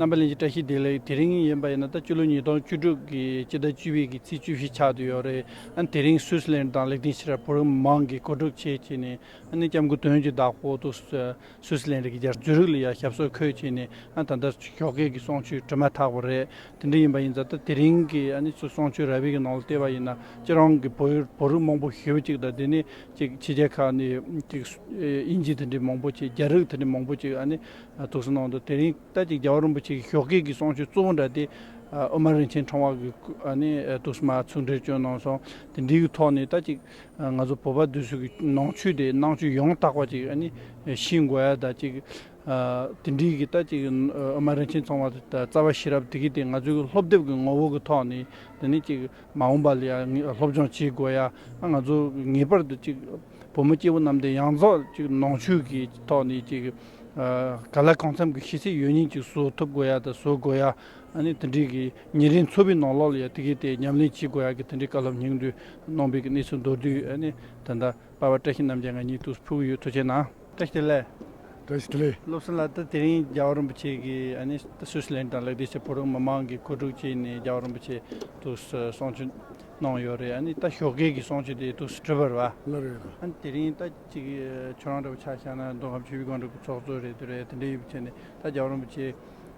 རྣམ་པ་ལེན་གྱི་བཀྲ་ཤིས་བདེ་ལེགས་དེ་རིང་ཡིན་པ་ཡིན་ན་ད་སྤྱི་ལོ་ཉིས་སྟོང་བཅུ་དྲུག་གི་སྤྱི་ཟླ་བཅུ་བའི་གི་ཚེས་བཅུ་བཞི་ཆགས་འདུག་ཡོད་རེད་ཨ་ནི་དེ་རིང་སུས་ལེན་དང་ལེགས་ལྡན་ཕྱི་རབས་བོད་མི་མང་གི་གོ་སྒྲུབ་བྱེད་ཅེས་ནས་ཨ་ནི་སྐྱབས་མགོན་དོན་གྱི་བདག་པོ་དུ་སུའུ་སི་ལན་རིགས་ཀྱི་རྒྱ་མཚོའི་རིགས་ལ་ཡང་ཞབས་སོར་འཁོད་ཅེས་ནས་ད་ལྟ་ཞོགས་ཀེག་གི་གསོང་ཆུའི་དྲི་མ་དག་པ་རེད། དེ་འདྲ་ཡིན་པ་ཡིན་ཙང་ད་དེ་རིང་གི་གསོང་ཆུ་ར་བྷི་གི་ནང་ལ་བལྟས་པ་ཡིན་ན་ཅི་རང་གི་བོད་བོད་རིགས་མང་པོ་ཞི་བ་ཅིག་དང་དེ་ནས་ཅིག་ཕྱི་རྒྱལ་ཁག་ནས་ཅིག་དབྱིན་ཇི་དེ་འདྲས་མང་པོ་ཅིག་རྒྱ་རིགས་དེ་འདྲས་མང་པོ་ཅིག་ཐུགས་སུ་ནང་དུ་དེ་རིང་ད་ཅིག་རྒྱལ་བ་རིན་པོ་ཆེ་གི་ཞོགས་ཀེག་གི་གསོང་ཆུ་གཙོ་བོ་འདྲ་དེ་ཨོ་མ་རིན་ཆེན་ཁྲང་བ་གི་ཐུགས་སུ་མ་ཚུར་འདྲེར་བསྐྱོན་གནང་སོང་དེ་འདྲིའི་ཐོག་ནས་ད་ཅིག། ང་ཚོ་བོད་པ་དུས་ཚོད་ཀྱི་ནང་ཆོས་དེ་ནང་ཆོས་ཡང་དག་པ་ཅིག་ཤེས་དགོས་ཡ་ད་ཅིག་དེ་འདྲིའི་གི་ད་ཅིག་ཨ་མ་རིན་ཆེན་ཚང་བ་ད་རྩ་བ་ཤེས་རབ་དེ་གི་དེ་ང་ཚོའི་སློབ་དེབ་ཀྱི་ངོ་བོ་གི་ཐོག་ནས་དེ་ནི་ཅིག་མ་འོངས་པ་ལ་ཡ་སློབ་སྦྱོང་བྱེད་དགོས་ཡ་ང་ཚོ་ངེས་པར་དུ་ཅིག་བུ་མོ་སྐྱེ་བོ་རྣམས་དེ་ཡང་རྫོགས་ཅིག་ནང་ཆོས་ཀྱི་ཐོག་ནས་ཅིག་ག་ལ་གང་འཚམ་གྱི་ཤེས་ཚད་ཡོད་ཉིན་ཅིག་བཟོ་ཐུབ་དགོས་ཡ་ད་བཟོ་དགོས་ཡ་ཨ་ནི་དེ་འདྲིའི་གི་ཉེ་རིང་ཚོ་པའི་ནང་ལོགས་ལ་ཡང་དེ་གས་དེ་ཉམས་ལེན་བྱེད་དགོས་ཡག་གི་དེ་འདྲའི་བཀའ་སློབ་སྙིང་བསྡུས་གནང་པའི་གནས་ཚུལ་མདོར་བསྡུས་ཨ་ནི་ད་ལྟ་དཔའ་བ་བཀྲ་ཤིས་རྣམ་རྒྱལ་ང་གཉིས་ཐུགས་སུ་ཕུལ་གྱི་ཡོད་ཐུགས་ཆེ་གནང། བཀྲ་ཤིས་ལས། བཀྲ་ཤིས་ལས། སློབ་གསེང་ལ་ད་དེ་རིང་རྒྱལ་བ་རིན་པོ་ཆེ་གི་ཨ་ནི་སུས་ལན་དང་ལེགས་སྒྲིག་བྱེད་ཕོ་རོག་མི་མང་གི་ཁོ་དྲུག་བཅས་ནས་རྒྱལ་བ་རིན་པོ་ཆེ་ཐུགས་སུ་གསང་ཆོས་གནང་ཡོད་རེད་ཨ་ནི་ད་ཞོགས་སྐལ་གྱི་གསང་ཆོས་དེ་ཐུགས་སུ་ཁྲིད་པར་བ། ལ་རེད། ཨ་ནི་དེ་རིང་ད་ཅིག་ཁྱོད་རང་འདྲ་བོ་ཆགས་ཤག་ན་མདོ་ཁམས་ཆོས་བརྒྱུད་སྒང་དྲུག་གི་ཚོགས་གཙོ་རེད་འདུག་རེད་དེ་འདྲས་ཡོད་པ་བྱས་ནས་ད་རྒྱལ་བ་རིན་པོ་ཆེ།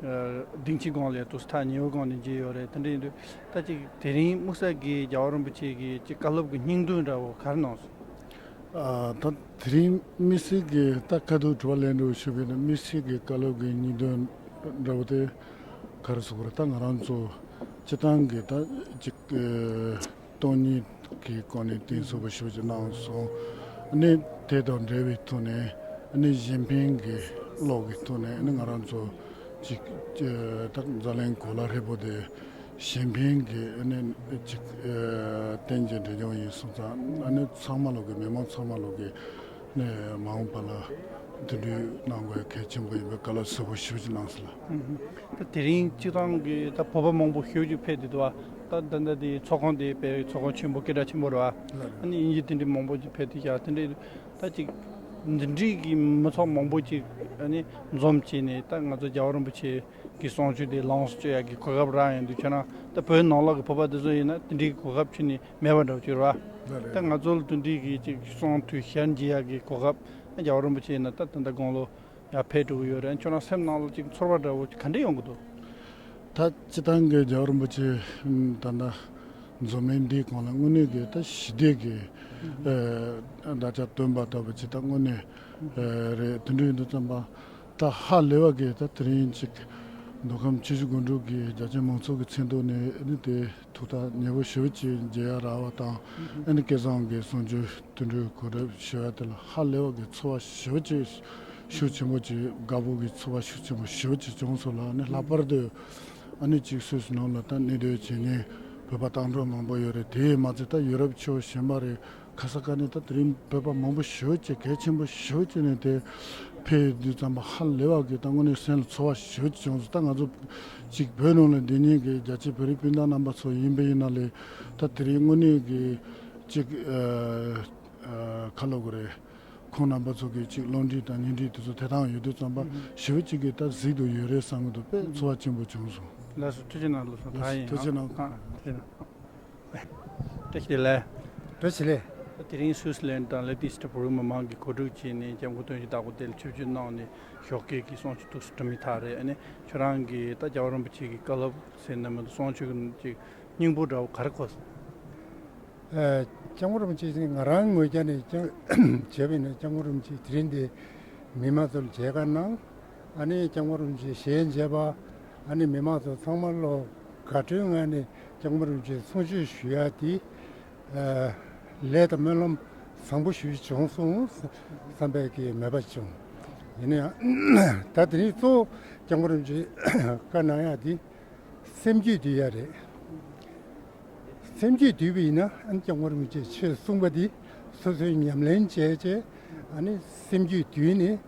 སྡིངས་ཆའི་སྒང་ལས་དུ་སྟག་ཉི་འོད་སྒང་ནས་འགྱེལ་ཡོད་རེད་དེ་འདྲ་ཡིན་དུས་ད་ཅིག་དེ་རིང་དམུ་ས་དགེའི་རྒྱལ་བ་རིན་པོ་ཆེ་གིས་ཅིག་བཀའ་སློབ་ཀྱི་སྙིང་དོན་འདྲ་བོ་གར་གནང་སོང། ད་དེ་རིང་དམིགས་བསལ་གྱི་ད་བཀའ་སྡོད་དྲི་བ་གླེང་འདོད་ཞུས་པའི་དམིགས་བསལ་གྱི་བཀའ་སློབ་ཀྱི་སྙིང་དོན་འདྲ་བོ་དེ་གར་ཟུག་པར་ད་ང་རང་ཚོ་སྤྱི་བཏང་གིས་ད་ཅིག་སྟོང་ཉིད་ཀྱི་སྒོ་ནས་གཏིང་ཟབ་པར་ཤོག་ཅིག་གནང་སོང། ནི་དེ་དང་འབྲེལ་བའི་ཐོག་ནས་ནི་གཞན་ཕན་གྱི་གློག་གི་ཐོག་ནས་ནི་ང་རང་ཚོ་གཅིག་དང་ཛ་ལན་གོ་ལ་ཧྲིལ་པོ་དེ་གཞན་ཕན་གྱི་ནི་གཅིག་རྟེན་གྱི་འབྲེལ་ལྗོངས་ཡིན་སོང་ཙང་ནི་ཚང་མ་ལོག་གི་མི་མང་ཚང་མ་ལོག་གི། ནས་མ་འོངས་པ་ལ་འདུས་འདྲིས་གནང་དགོས་གལ་ཆེན་པོ་ཡིན་པའི་བཀའ་སློབ་གསལ་པོ་ཞིབ་ཅིག་གནང་སོང་ལ། ད་དེ་རིང་སྤྱི་བཏང་གི་ད་བོད་པ་མང་པོ་ཤོས་ཅིག་ཕེབས་འདུག་ཏུ་བ། ད་ད་ད་དེ་ཚོགས་ཁང་དེ་བེད་ཚོགས་ཁང་ཆེན་པོ་སྐད་གྲགས་ཆེན་པོ་རུ་བ། ཨ་ནི་དབྱིན་ཇི་དེ་འདྲའི་མང་པོ་ཅིག་ཕེབས་ཏེ་བཞག་དེ་འདྲའི་ད་ཅིག་འདུས་འདྲིས་ཀྱི་མི་ཚོགས་མང་པོ་ཅིག་ཨ་ནི་འཛོམས་བྱས་ནས་ད་ང་ཚོ་རྒྱལ་བ་རིན་པོ་ཆེ་གི་གསུང་ཆོས་དེ་ལངས་སུ་སྤྱོད་ཡག་གི་གོ་སྐབས་རག་ཡོང་དུས་ཁྱོད་རང་ད་བོད་ནང་ལོག་གི་བོད་པ་དེ་ཚོ་ཡིན་ན་དེ་འདྲའི་གོ་སྐབས་ཁྱོད་ནས་མེད་པར་འགྲོ་བར་འགྱུར། ད་ང་ཚོ་ལ་དོན་འདི་གྱིས་ཅིག་གསུངས་དུས་ཞལ་མཇལ་ཡག་གི་གོ་སྐབས་རྒྱ་བ་རིན་པོ་ཆེ་ཡིན་ན་ད་ད་ལྟ་དགོང་ལོ་ཡར་ཕེབས་འགྲོ་གི་ཡོད་རེད་ཁྱོད་རང་སེམས་ནང་ལ་ཅིག་ཚོར་བ་འདྲ་བོ་ག་འདྲས་ཡོང་གི་འདུག། ད་སྤྱི་བཏང་གི་རྒྱ་བ་རིན་པོ་ཆེ་ད་ད་མཛོ་མིང་འདིའི་གོང་ལ་དངོས་གནས་ཀྱི་ད་ཞི་བདེ་གི་བརྡ་ཆ་སྟོན་པ་ལྟ་བུ་ཅིག་ད་དངོས་གནས་རེད་དོན་འགྲུས་འདི་ཙམ་པ་ད་ཧ་ལས་བ་གིས་ད་དེ་རིང་ཅིག་མདོ་ཁམས་ཆུ་བཞི་དགོན་དྲུག་གི་རྒྱ་ཆེན་མང་ཚོགས་ཀྱི་མཚན་ཐོག་ནས་ནི་དེ་ཐུགས་ཐག་ཉེ་པོ་ཞུ་ཅེས་རྗེ་ཡ་ར་བ་དང་ཨེ་ནི་ཀེ་ཟང་གི་གསུང་ཆོས་བསྟུན་འགྲོའི་གོ་རབས་ཞི་བ་དེ་ལ་ཧ་ལས་བ་གི་ཚོ་བ་ཞུ་ཅེས་ཤུགས་ཆེན་པོ་བྱས་དགའ་སྤོབས་ཀྱི་ཚོ་བ་ཤུགས་ཆེན་པོ་ཞུ་ཅེས་བྱུང་སོང་ལ་ནི་ལྷག་པར་དུ་ཨ་ནུ་གཅིག་སུས་ནང་ལ་ད་ནི་དོལ་བྱེད་ཉན་བོད་པ་བཏང་འགྲོ་མང་པོ་ཡོད་རེད་དེའི་མ་ཚད་ད་ཡུ་རོབ་ཆོས་གཞན་པ་རེད་ཁ་ས་ཀ་ནས་ད་དེ་རིང་བོད་པ་མང་པོ་ཞི་བ་བྱེད་གལ་ཆེན་པོ་ཞི་བ་བྱེད་ནས་དེ་ཕེ་ཡི་དུས་ཙམ་པ་ཧ་ལེ་བ་གི་ད་དངོས་གནས་སེམས་ལ་ཚོར་བ་ཞི་བ་བྱེད་བྱུང་སོང་ད་ང་ཚོ་གཅིག་བོད་ནང་ལ་འདི་ཉིད་ཀྱི་རྒྱ་ཆེ་བོད་རིགས་སྤུན་ཟླ་རྣམ་པ་ཚོ་ཡིན་པ་ཡིན་ན་ལེ་ད་དེ་རིང་དངོས་གནས་གི་གཅིག་ཁ་ལོ་གོ་རེ་ཁོང་རྣམ་པ་ཚོ་གི་གཅིག་བློ་འདྲི་དང་སྙིང་འདྲི་དེ་ཚོ་དེ་དང་ཡོད་དུས་ཙམ་པ་ཞི་བ་གཅིག་གི་ད་གཟིགས་དུ་ཡོད་རེད་བསམ་གི་འདུག་པས་ཚོར་བ་ཆེན་པོ་བྱུང་སོང། ལས་སུ་ཐུགས་ཆེ་གནང་ལོ་སོང་ད་ཡིན་ཡང་ཐུགས་ཆེ་གནང། ཀྲེ་ཆི་ལེ། ཀྲེ་ཆི་ལེ། དེ་རིང་སུའུ་སི་ལན་དང་ལེ་ཏི་སི་ཏི་བོད་རིགས་མི་མང་གིས་གོ་སྒྲིག་བྱས་ནས་སྐྱབས་མགོན་དོན་གྱི་བདག་པོ་དེ་ལ་ཆིབས་བསྒྱུར་གནང་ནས་ཞོགས་སྐད་ཀྱི་གསུང་ཆོས་ཐུགས་སུ་དྲི་མི་ཐག་རེད་ནི་ཁྱོད་རང་གིས་ད་སྐྱབས་རིན་པོ་ཆེ་གི་བཀའ་སློབ་ཟེར་ནི་མི་འདུག་གསུང་ཆོས་ཀྱི་སྙིང་པོ་འདྲ་བོ་ག་རེ་གོ་སོང། སྐྱབས་མགོན་རིན་པོ་ཆེ་ནི་ང་རང་ངོས་ཀྱི་ནས་བྱས་པས་ནས་སྐྱབས་མགོན་རིན་པོ་ཆེས་དེ་རིང་འདི་མི་མང་ཚོ་ལ་མཇལ་ཁ་གནང། ཨ་ནི་ལྕང་མ་རུ་འབྱེད་ཞེས་འབྱེད་པ། ཨ་ནི་མི་མང་ཚོ་ཚང་མ་བློ་དགའ་སྤྲོའི་ངང་ནས་ལྕང་མ་རུ་འབྱེད་གསུང་ཆོས་ཞུ་ཡ་དེ། ལས་དང་སྨོན་ལམ་བཟང་པོ་ཞུས་བྱུང་སོང་བསམ་པས་ཀྱི་མོས་པ་བྱུང། ཡིན་ན་ཡང་ད་དེ་རིང་གཙོ་བོ་ལྕང་མ་རུ་འབྱེད་བཀའ་གནང་ཡ་དེ། སེམས་རྒྱུད་དུལ་ཡ་རེད། སེམས་རྒྱུད་དུལ་བ་ཡིན་ན་ཨ་ནི་ལྕང་མ་རུ་འབྱེད་ཆོས་གསུང་པ་དེ་སོ་སོའི་ཉམས་ལེན་བྱས་རྗེས་ཨ་ནི་སེམས་རྒྱུད་དུལ་ནས།